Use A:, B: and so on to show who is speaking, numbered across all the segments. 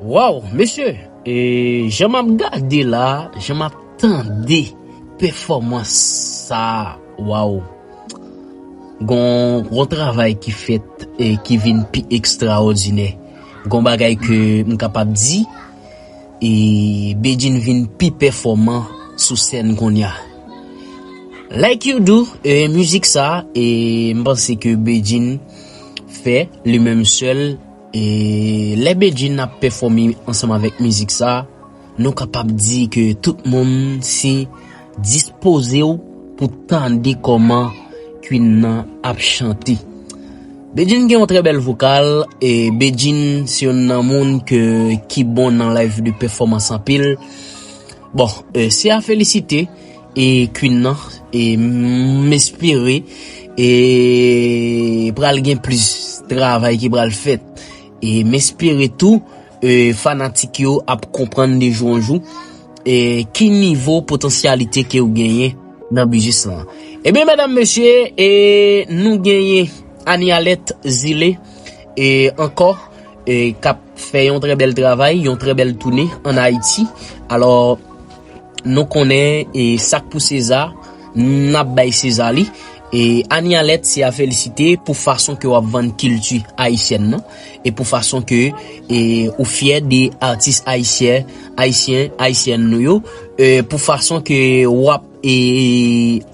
A: Waww mesye e jan map gade la jan map tande pèfòmans sa waww gon travay ki fèt e ki vin pi ekstraòdinè gon bagay ke m kapab di e Bedjine vin pi pèfòman sou sèn kounya like you do e mizik sa e m panse ke Bedjine fè li menm sèl. E lè Bedjine ap pèfòme ansanm avèk mizik sa, nou kapab di ke tout moun se dispoze w pou tande kòman Queen nan ap chante. Bedjine gen yon trè bèl vokal, e Bedjine se youn nan moun ke ki bon nan live de pèfòmans anpil. Bon, se a felisite. e queen nan e m espere e pral gen plis travay ki pral fèt e m espere tou e fanatik yo ap konprann de jou an jou e ki nivo potansyalite ke ou genyen nan biznis lan e byen medam mesye e nou genyen Anialet zile e ankò e kap fè yon trè bèl travay yon trè bèl toune an ayiti alò. Nou konnen e sak pou seza nap bay seza li e Anie Alerte se a felisite pou fason ke wap vann kilti ayisyèn nan e pou fason ke e ou fyè de atis ayisyen ayisyen ayisyèn nou yo e pou fason ke wap e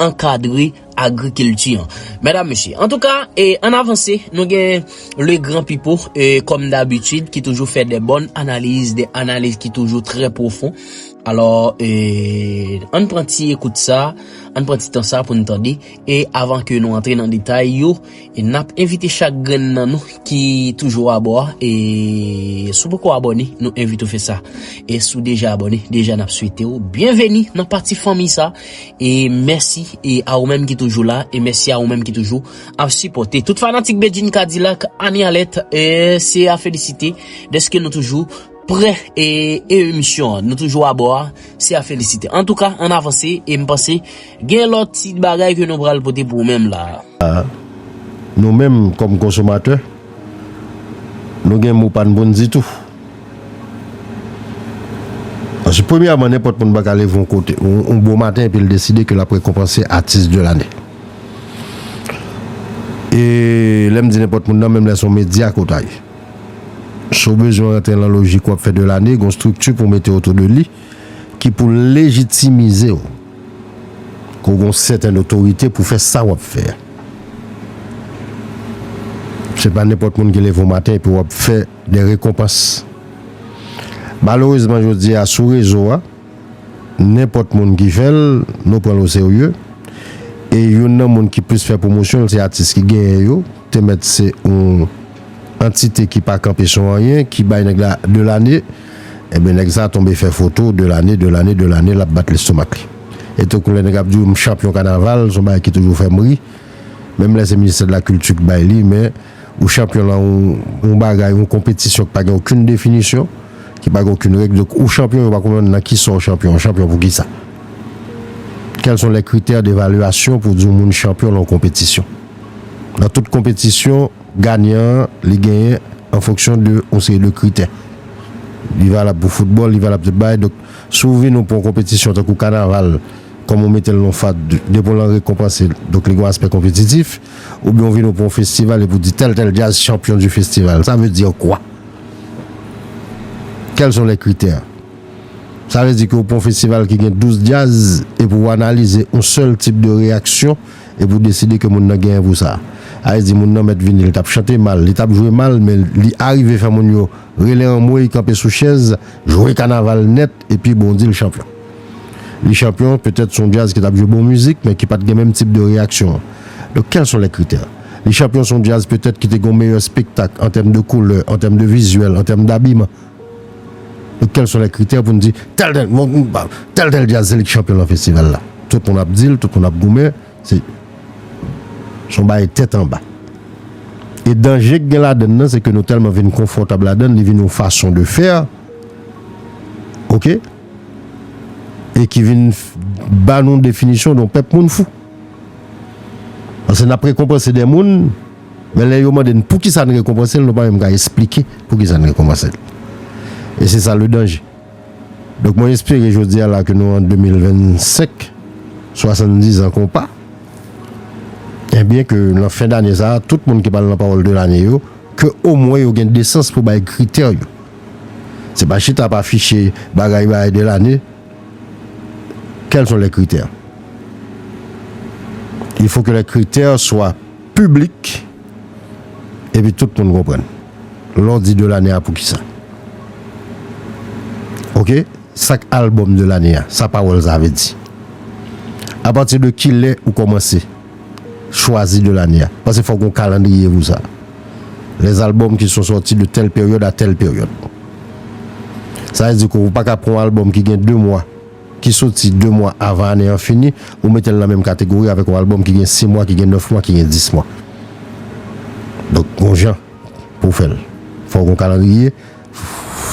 A: ankadre agriculture medam mesye antouka e an avanse nou gen le gran pipo e kom dabitid ki toujou fè de bon analiz de analiz ki toujou trè profon alò e an pran ti ekout sa an pran ti tan sa pou nou tande e avan ke nou antre nan detay yo E nap envite chak grenn nan nou ki toujou abò a e si w poko abòne nou envite w fè sa. E si w deja abòne deja nap swete w byenveni nan pati fanmi sa e mèsi a ou menm ki toujou la e mèsi a ou menm ki toujou ap sipòte tout fanatik Bedjine Cadillac Annie Alerte se a felisite dèske nou toujou Prè e emisyon an nou toujou abò a se a felisite antouka an avanse e m panse gen lòt ti bagay ke nou pral pote pou ou menm la a.
B: Nou menm kòm konsomatè nou gen mo pa n pou n di tou paske premyèman nenpòt moun pa ka leve yon kote yon bon maten epi l deside ke l ap rekonpanse atis de lane e lè m di nenpòt moun nan menm lè se yon medya ke w ta ye. Si w bezwen rantre lan lojik wap fè de lane, gon strikti pou mete otou de li ki pou lejitimize w. Ou gon sèten otorite pou fè sa wap fè a. Se pa nenpòt moun ki leve yon maten epi wap fè de rekonpans. Malerezman jodi a sou rezo a, nenpòt moun ki fè l, nou pran l o serye. E youn nan moun ki plis fè pwomosyon l se atis ki genyen yo, te mèt se yon. antite ki pa kanpe sou anyen ki bay nèg la de lane enben nèg sa tonbe fè foto de lane de lane de lane lap bat lestomak li etankou lè nèg ap diw m chanpyon kanaval son bagay ki toujou fèm ri menm lè se ministè de la kilti k bay li men ou chanpyon lan yon bagay yon konpetisyon ki pa gen okenn definisyon ki pa gen okenn règ donk ou chanpyon yo pa konprann nan kisa w chanpyon w chanpyon poukisa kèl son lè kritè devalyasyon pou di yon moun chanpyon lan yon konpetisyon nan tout konpetisyon. ganyan an li genyen an fonksyon de yon seri de kritè. Li valab pou foutbòl, li valab pou tout bagay. Donk, si w vini w pou yon konpetisyon tankou kanaval, kòm ou mete l non FADH, depi w lan rekonpanse, donk li gen yon aspè konpetitif. Oubyen w vini w pou yon festival epi w di tèl tèl djaz chanpyon di festival. Sa vle dir kwa? Kèl son lè kritè? Sa vle di ke w pou yon festival ki gen 12 djaz epi w analize yon sèl tip de reyaksyon. epi ou deside ke moun nan genyen pou sa. Ayes di moun nan mèt vini, li t ap chante mal, li t ap jwe mal men li arive fè moun yo rele anmwey, kanpe sou chèz, jwe kanaval nèt epi bon di l chanpyon. Li chanpyon, petèt s on djaz ki t ap jwe bon mizik men ki pa t gen menm tip de reyaksyon an. Donk kèl son lè kritè? Li chanpyon s on djaz petèt ki te gen yon meyè spektak an tèm de koulè, an tèm de vizyèl, an tèm dabiman. E kèl son lè kritè pou n di tèl tèl bon group ba tèl tèl djaz se li ki chanpyon nan festival la. Tout moun ap di l, tout moun ap goumen, se s on bagay tèt anba. E danje k gen ladann nan se ke nou tèlman vin konfòtab ladann li vin yon fason de fè ok e ki vin ba nou definisyon de yon pèp moun fou. Pase n ap rekonpanse de moun. Men lè yo mande n poukisa n rekonpanse l, nou pa menm ka esplike poukisa n rekonpanse l. E se sa ledanje. Donk mwen espere jodi a la ke nou an 2025, 70 an konpa, enbyen ke nan fen dane sa a, tout moun ki pral nan pawòl de lane yo, ke omwen yo gen desans pou bay kritè yo. Se pa chita ap afiche bagay bay de lane, quels sont les critères? Il faut que les critères soient. piblik epi tout moun konprann lè w di de lane a poukisa ok sak album de lane a sa pawòl sa vle di apati de kilè ou kòmanse chwazi de lane a paske fòk gon kalandriye pou sa les albums qui sont sortis de telle période à telle période sa vle di ke ou paka pran yon album ki gen 2 mwa. ki soti 2 mwa avan ane an fini, ou mete l nan menm kategori avèk yon albòm ki gen 6 mwa, ki gen 9 mwa, ki gen 10 mwa. Donk gon jan pou w fè l. Fò w gen yon kalandriye,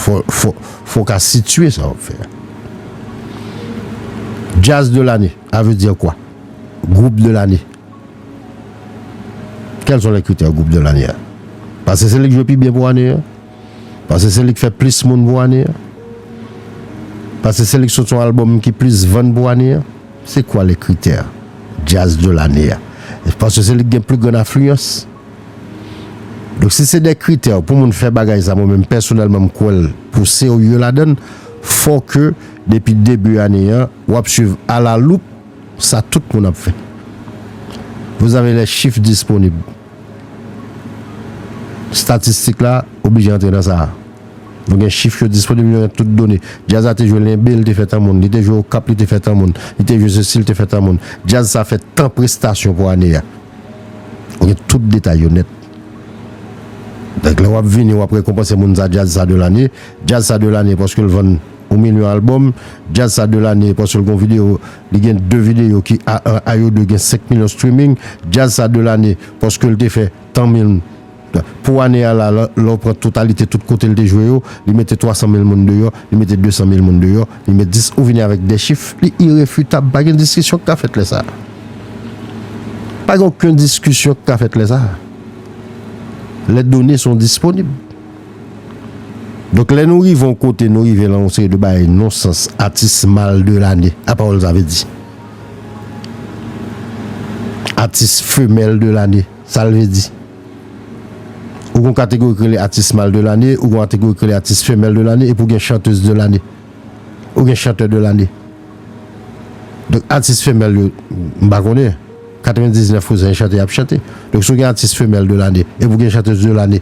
B: fò w ka sitye sa w ap fè a. Jazz de l'année, a veut dire quoi? Groupe de l'année. Quels sont les critères groupe de l'année a? Pase se li k jwe pi byen pou ane an. Pase se li k fè plis moun pou ane an? Pase se li k sot yon album ki plis vann pou ane an? Se kwa le kritè Jazz de l'année a? Pase se li k gen pli gran afliyans? Donk si se de kritè pou moun fè bagay sa mwen menm pèsonèlman m kwè l pou serye ladan l fò ke depi debi ane an w ap swiv a la loup sa tout moun ap fè. Vous avez les chiffres disponibles. Statistik la oblije antre nan sa a. Nou gen chif yo disponib, nou gen tout done. Djaz la te jwe Lenbe, li te fè tan moun. Li te jwe Okap, li te fè tan moun. Li te jwe sesi, li te fè tan moun. Djaz sa fè tan prestasyon pou ane a. Ou gen tout detay yo nèt. Donk lè w ap vini, w ap rekonpanse moun sa djaz sa de lane. Djaz sa de lane paske l vann yon milyon albòm. Djaz sa de lane paske l gen yon videyo. Li gen 2 video ki a 1 a yo 2 gen 5 milyon streaming djazz sa 2 lane paskel te fè tan mil pou ane a la lèw pran totalite tout kotel te jwe yo li mete 300 mil moun deyò li mete 200 mil moun deyò li met 10 ou vini avèk 2 chif li irefitab pa gen diskisyon ki ka fèt lè sa pa gen oken diskisyon ki ka fèt lè sa lè done son disponib. Donk lè nou rive yon kote nou rive lan yon seri de bagay non sans atis mal de lane a pawòl sa vle di atis femèl de lane sal vle di ou gon kategori ki rele atis mal de lane ou gon ategori ki rele atis femèl de lane epi ou gen chantez de lane ou gen chantè de lane donk atis femèl yo m pa konnen 99 pou san yon chante yap chante donk si w gen atis femèl de lane epi w gen chantez de lane.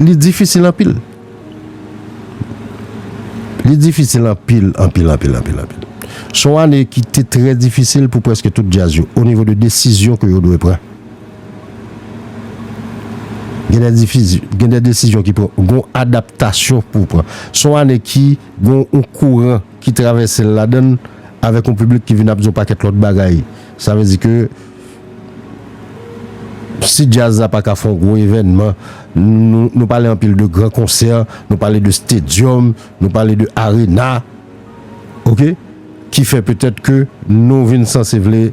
B: Li difisil anpil. Li difisil anpil, anpil, anpil, anpil, anpil. Se yon ane ki te trè difisil pou prèske tout djaz yo, o nivo de desizyon ke yo dwe pran. Gen de difiz, gen de desizyon ki pran, gen yon adaptasyon pou w pran. Se yon ane ki gen yon kouran ki travèse l ladan l, avèk yon piblik ki vin ap di yon pakèt lòt bagay. Sa vle di ke Si djaz la pa ka fè yon gwo evènman, nou pale anpil de gran konsè, nou pale de stadium, nou pale de arena, ok, ki fè petèt ke nou vin sanse vle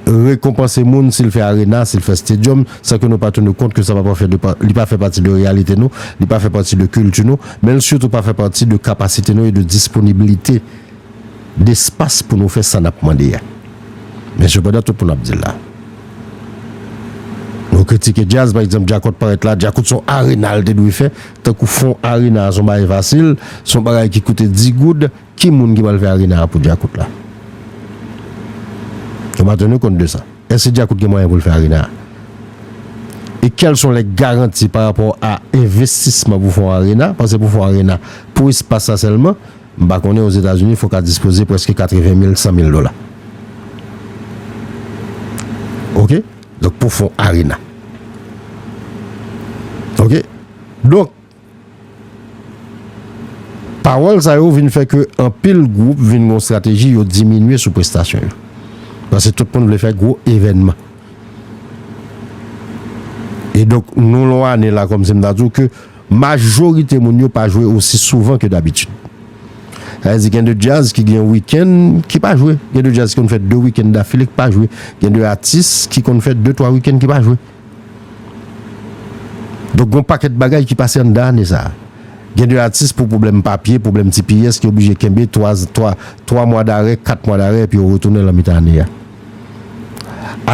B: rekonpanse moun si l fè arena, si l fè stadium, san ke nou pa tenu kont ke sa pa fè, li pa fè pati de reyalite nou, li pa fè pati de kilti nou, men l sitou pa fè pati de kapasite nou e de disponibilite. despas pou nou fè sa n ap mande a. Men sepandan tout moun ap di l la. Nou kritike djaz pa egzanp djakout parèt la, djakout s on arena l te dwe fè, tankou fon arena a s on bagay fasil, s on bagay ki koute 10 goud, ki moun ki pral fè arena a pou djakout la? Nou pa tenu kont de sa. Èske djakout gen mwayen pou l fè arena a? E kèl s on lè garanti parapò a envestisman pou fon arena, pase pou fon arena pou espas la sèlman, M pa konnen Ozetazini fok a dispoze preske 80 mil 100 mil dola ok donk pou fon arena ok donk pawòl sa yo vin fè ke anpil gwoup vin gon strateji yo diminye sou prestasyon yo paske tout moun vle fè gwo evènman e donk nou lon ane la kòm si m ta di w ke Majorite moun yo pa jwe osi souvan ke dabitid. Sa vle di gen de djaz ki gen wikenn ki pa jwe, gen de djaz ki konn fè de wikenn dafile ki pa jwe, gen de atis ki konn fè de twa wikenn ki pa jwe. Donk gon pakèt bagay ki pase anndan ane sa a. Gen de atis pou pwoblèm papye, pwoblèm ti piyès ki oblije kenbe twa twa twa mwa darè, kat mwa darè epi yo retounen lan mitan ane a.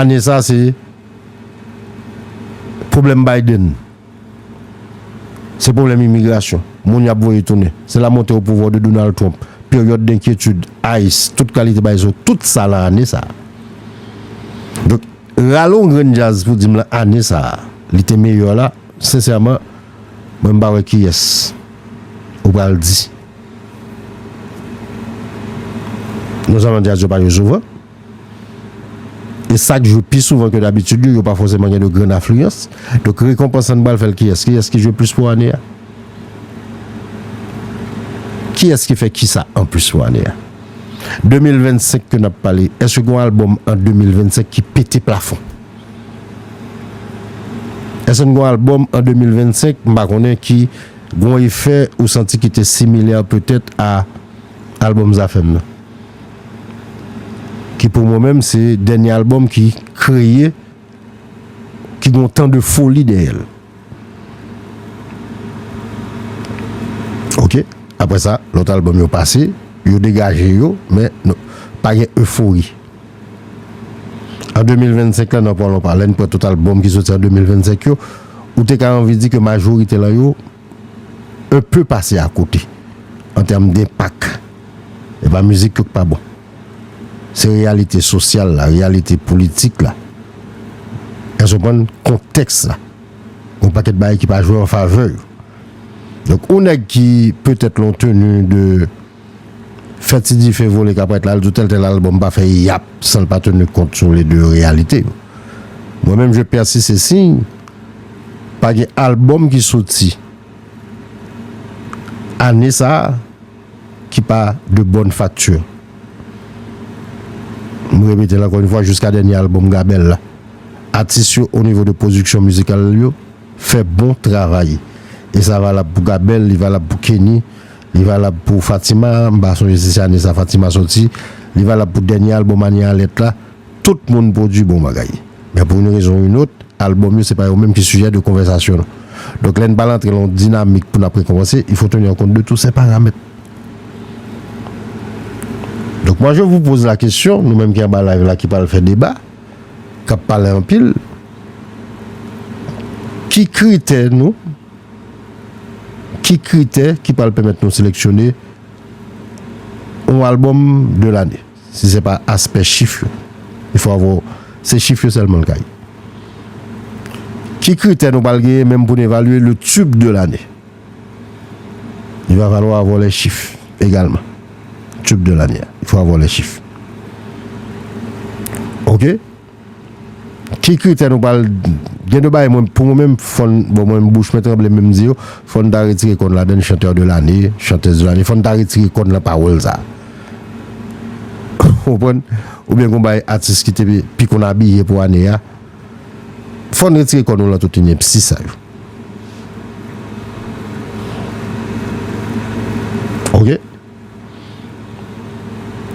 B: Ane sa a se pwoblèm Biden Se pwoblèm imigrasyon, moun y ap voye tounen, se la monte o pouvwa de Donald Trump, peryòd denkyetid, ice, tout kalite bagay sa yo, tout sa lan ane sa a. Donk, rale yon grenn djaz pou di m lan ane sa a, li te meyè la, sensèman, mwen m pa wè kiyès ou pral di. Nonzèlman djaz yo pa jwe souvan. E sak jwe pi souvan ke dabitid yo, yo pa fòseman gen de grann afliyans. Donk rekonpans sa n pral fè l kiyès? Kiyès ki jwe plis pou ane a? Kiyès ki fè kisa an plis pou ane a? 2025 ke n ap pale, èske gen yon albòm an 2025 ki pete plafon? Èske gen yon albòm an 2025, m pa konnen, ki gen yon efè ou santi ki te similè petèt a albòm Zafèm nan? ki pou mwen menm se dènye albòm ki kreye, ki gen yon tan de foli dèyè l. Ok, aprè sa, lòt albòm yo pase, yo degaje yo, men pa gen efori. An 2025 la, nan pwalonpa, lè n pran tout albòm ki soti an 2025 yo, ou te ka anvi di ke majorite lan yo, un peu pase a kote an tèm denpak. E pa mizik yo k pa bon. Se reyalite sosyal la, reyalite politik la. Èske w konprann kontèks la? Gon pakèt bagay ki pa jwe an favè yo. Donk on nèg ki petèt lon tenu de. fè ti dife vole kaprèt la al di w tèl tèl albòm pa fè yap san l pa tenu kont sou le de reyalite yo. Mwen menm je pèsiste si pa gen albòm ki soti ane sa a ki pa de bonne facture. M repete l ankò yon fwa jiska dènye albòm Gabèl la. Atis yo o nivo de pwodiksyon mizikal yo fè bon travay. E sa valab pou Gabèl, li valab pou Kenny. Li valab pou Fatima, m pa sonje si se ane sa Fatima soti, li valab pou dènye albòm Anie Alerte la, tout moun pwodui bon bagay. Men pou youn rezon ou youn ot, albòm yo se pa yo menm ki sijè de konvèsasyon nou. Donk lè n pral antre lan yon dinamik pou n ap rekonpanse, il faut tenir compte de tous ces paramètres. Donk moi je vous pose la question, nou menm ki anba live la ki pral fè deba, k ap pale anpil, ki kritè nou. Ki kritè ki pral pèmèt nou seleksyone yon album de l'année si se pa aspè chif yo? Il faut avoir se chif yo sèlman li ka ye. Ki kritè nou pral genyen menm pou nou evalye le tube de l'année? Il va falloir avoir les chiffres également. Tube de l'année a, il faut avoir les chiffres. Ok? Ki kritè nou pral Gen 2 bagay mwen pou mwen menm fòn bon mwen menm bouch mwen tranble menm di yo fòn ta retire kòn ladann chanteur de l'année chanteuse de l'année fòn ta retire kòn nan pawòl sa ou konprann oubyen gon bagay atis ki te pi konn abiye pou ane a fòn retire kòn nou lan tout inepsi sa yo ok.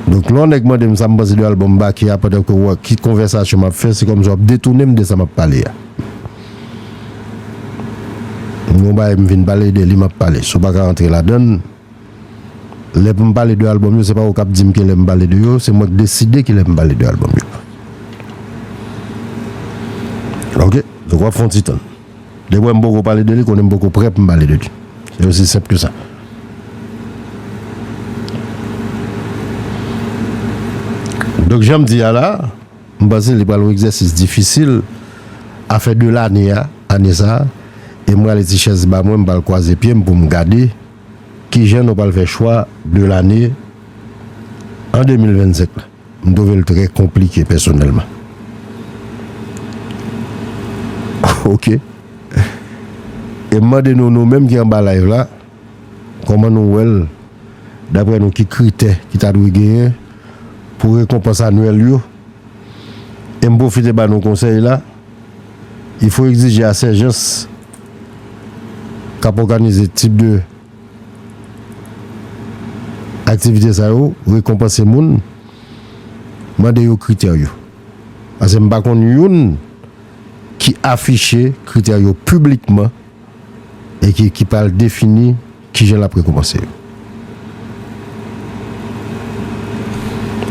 B: Donk lè yon nèg mande m sa m panse de albòm Baky a pandan ke w wè ki konvèsasyon m ap fè, se kòmsi w ap detounen m de sa m ap pale a. M gen yon bagay m vin pale, de li m ap pale. Si w pa ka rantre ladan l, lè pou m pale de albòm yo, se pa ou k ap di m ki lè m pale de yo, se mwen k deside ki lè m pale de albòm yo. Ok, donk w ap fè yon ti tann. Depi wè m poko pale de li konnen m poko prè pou m pale de li. Se osi senp ke sa. Donk jan m di a la, m panse li pral yon egzèsis difisil a fen de lane a, ane sa, e m rale ti chèz ba mwen, m pral kwaze pye m pou m gade kijan nou pral fè chwa de lane an 2025 la. M twouve l trè konplike pèsonèlman. Ok. E m mande nou, nou menm ki anba live la, kòman nou wè l, daprè nou ki kritè ki ta dwe genyen pou rekonpans anwèl yo? E m pwofite ba nou konsèy la, il faut exiger à ces gens k ap òganize tip de. Aktivite sa yo rekonpanse moun, mande yo kritè yo. Pase m pa konn youn ki afiche kritè yo piblikman e ki ki pral defini kijan l ap rekonpanse yo.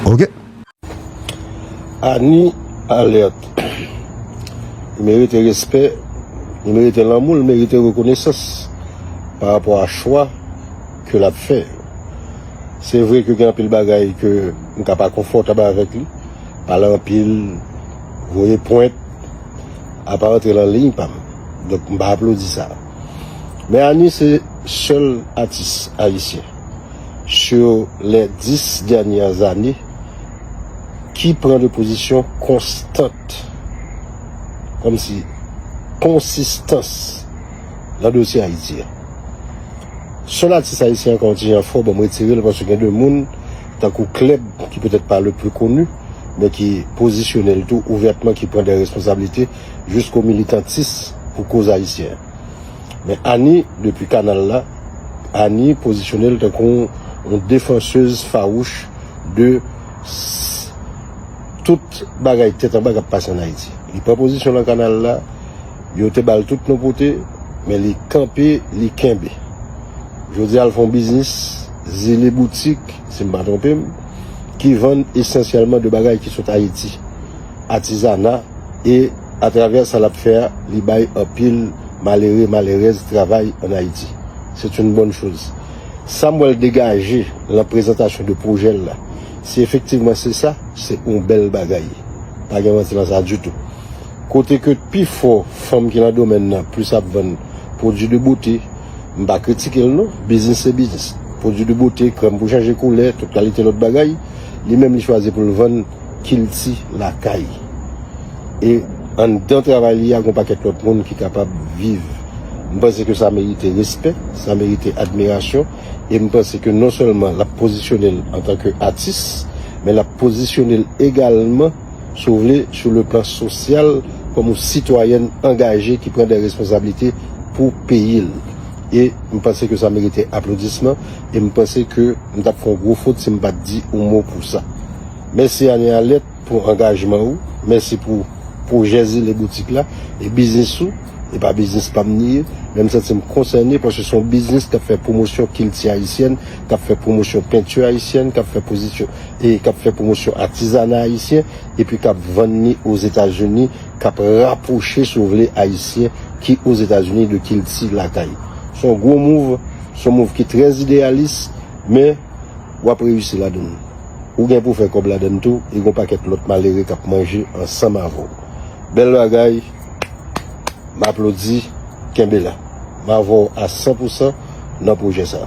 B: Ok. Annie
C: alerte li merite respè li merite lanmou li merite rekonesans pa rapò a chwa ke lap fè se vre ke gen anpil bagay ke m ka pa konfòtab avèk li pale anpil voye pwent a pa rantre lan liy pam donk m pa aplodi sa men Annie se sèl atis ayisyen. sur les 10 dernières années ki pran de pozisyon konstant kòm si konsistans nan dosye Ayiti a. Sèl atis ayisyen an konti jan fò, bon m retire l paske gen de moun tankou Klèb ki petèt pa le pli koni men ki pozisyone l tou ouvètman ki pran de responsablite jisko militantis pou koz ayisyen. Men Annie depi kanal la, Annie pozisyone l tankou yon defansez fawouch de tout bagay tèt anba k ap pase an Ayiti. Li pran pozisyon lan kanal la, yo te ba l tout non pote, men li kanpe, li kenbe. Jodi a l fè yon biznis, Zile Boutik, si m pa twonpe m, ki vann esansyèlman de bagay ki sot Ayiti. atizana e atravè sa lap fè a li bay anpil malere malerèz travay an Ayiti. C'est une bonne chose. Sa m wè l degaje lan prezantasyon de pwojè l la, si efektivman se sa, se oun bèl bagay. Pa gen manti lan sa ditou. Kote ke pi fò fanm ki lan domèn nan plis ap vann pwodui de bote, m pa kritike l non, biznis se biznis. Pwodui de bote, krèm pou chanje koulè, tout kalite lòt bagay, li menm li chwazi pou l vann kilti lakay. E anndan travay li a, gen yon pakèt lòt moun ki kapab viv. M panse ke sa merite respè, sa merite admirasyon. E m panse ke non sèlman l ap pozisyone l antanke atis, men l ap pozisyone l egalman, si w vle, sou le plan sosyal, kòm yon sitwayèn angaje ki pran dè responsablite pou peyi l. E m panse ke sa merite aplodisman. E m panse ke m t ap fè yon gwo fot si m pa t di yon mo pou sa. Mèsi Anne Alette pou angajman ou, mèsi pou pwojè Zile Boutik la, e biznis ou, e pa biznis pa m li ye, men m santi m konsène paske se yon biznis k ap fè pwomosyon kilti ayisyèn, k ap fè pwomosyon penti ayisyèn, k ap fè pozisyon, e k ap fè pwomosyon atizana ayisyen, epi k ap vann li Ozetazini, k ap rapwoche si w vle ayisyen ki Ozetazini de kilti lakay. Se yon gwo move, se yon move ki trè ideyalis, men. Wap reyisi ladann. Ou gen pou fè kòb ladann tou e gon pakèt lòt malere kap manje ansanm avèw. Bèl bagay M aplodi Kenbe la M avèw a san pou san nan pwojè sa.